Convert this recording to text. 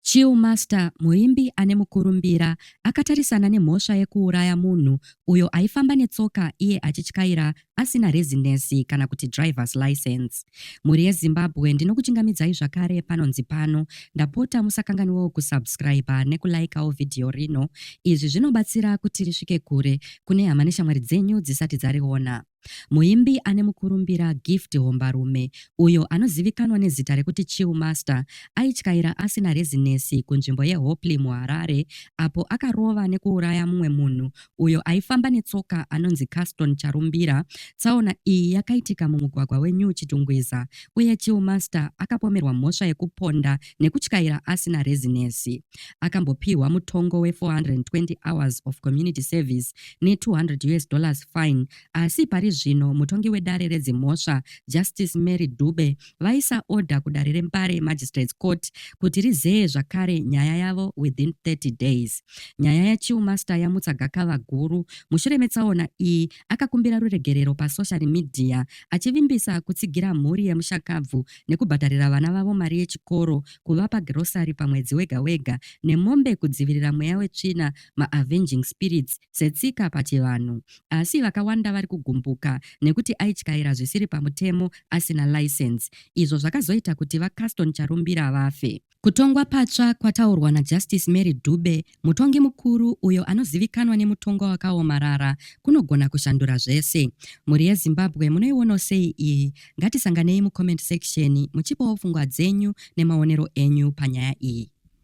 Chill Master muimbi ane mukurumbira akatarisana nemhosva yekuuraya munhu uyo aifamba netsoka iye achityaira asina rezinesi kana kuti drivers license. Mhuri yeZimbabwe ndinokuchingamidzai zvakare panonzi pano. Ndapota musakanganiwewo kusubscriber nekulaikawo vhidhiyo rino. Izvi zvinobatsira kuti risvike kure kune hama neshamwari dzenyu dzisati dzariona. Muimbi ane mukurumbira Gift Hombarume, uyo anozivikanwa nezita rekuti Chill Master, aityaira asina rezinesi kunzvimbo yeHopley muHarare apo akarova nekuuraya mumwe munhu uyo aifamba netsoka anonzi Caston Charumbira. Tsaona iyi yakaitika mumugwagwa weNew Chitungwiza uye Chill Master akapomerwa mhosva yekuponda nekutyaira asina rezinesi. Akambopihwa mutongo we 420 hours of community service ne 200 US dollars fine asi pari zvino mutongi wedare redzimhosva Justice Mary Dube vaisa order kudare reMbare Magistrates Court kuti rizeye zvakare nyaya yavo within 30 days. Nyaya yaChiu Master yamutsa gakava guru mushure metsaona iyi akakumbira ruregerero pasocial media achivimbisa kutsigira mhuri yemushakabvu nekubhadharira vana vavo mari yechikoro, kuvapa girosari pamwedzi wega wega, nemombe kudzivirira mweya wetsvina, maavenging spirits, setsika pachivanhu. Asi vakawanda vari kugumbuka nekuti aityaira zvisiri pamutemo asina license izvo zvakazoita kuti VaCaston Charumbira vafe. Kutongwa patsva kwataurwa naJustice Mary Dube, mutongi mukuru uyo anozivikanwa nemutongwa wakaomarara, kunogona kushandura zvese. Mhuri yeZimbabwe munoionawo sei iyi? Ngatisanganei mucomment section muchipawo pfungwa dzenyu nemaonero enyu panyaya iyi.